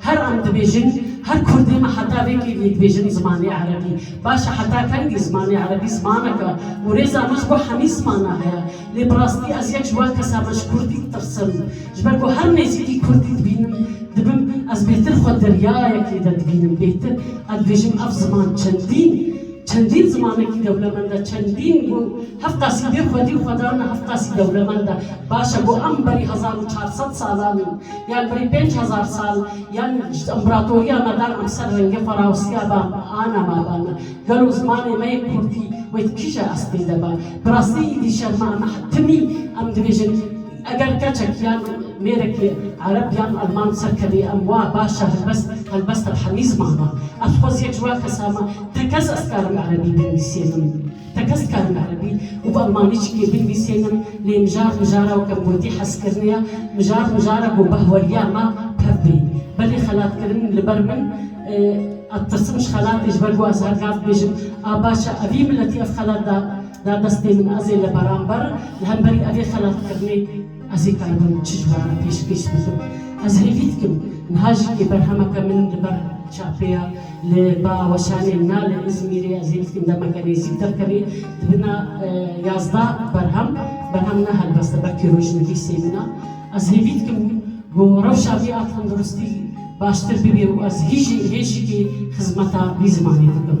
Her em dibêjin, her kurdê me heta vê kêliyê dibêjin zimanê erebî baş e. Heta kengî zimanê erebî zimanek e û rêza min ji bo hemî zimana heye. Lê bi rastî ez yek ji wan kes a me ji kurdî ditirsim. Ji ber ku her nêzîkî kurdî dibînim, dibim ez bêtir xwe deryayekê de dibînim. Bêtir ez dibêjim ev ziman çendîn çendîn zimanekî dewlemend e. Çendîn ku hev qasî bê xwedî û xwedan e, hev qasî dewlemend e. Baş e ku em berî hezar û çar sed salan in. Yan berî pênc hezar sal yan ji împeratoriya me dan em ser rengê xwe rawestiya ba ana ma ba me. Gelo zimanê me yê kurdî wê di kije estê de ba? Bi rastî îdî şerma em e. Timî em dibêjin eger keçek yan mêrekê ereb yan elman ser kevê em wa baş e helbest helbest ev hemî ziman e. Ez xweziyek ji wa kesan me. Tekez ez dikarim erebî binivîsînim. Te kes dikarin erebî û bi elmanî çikê binivîsênim lê mijar mijara weke min gotî hezkirinê ya mijar mijara ku behweriya me pir bê belê xelatkirin li ber min ez tirsim ji xelatê ji ber ku ez her kar dibêjim a baş e evî miletî ev xelat da destê min ez ê li beramber li hemberî evê xelatkirinê Ez ê keribim bi çi ciwaran pêşkêş bikim? Ez hêvî dikim niha jî kê berhemeke min li ber çapê ye li ba weşanê na li Îzmîrê ez hêvî dikim demeke nêzîk derkeve di bina yazdeh berhem berhem ne helbest e belkî rojnivîs ê min e ez hêvî dikim ku rewşa vê a tenduristî baştir bibê û ez hî jî hê jî kê xizmeta vî zimanê dikim.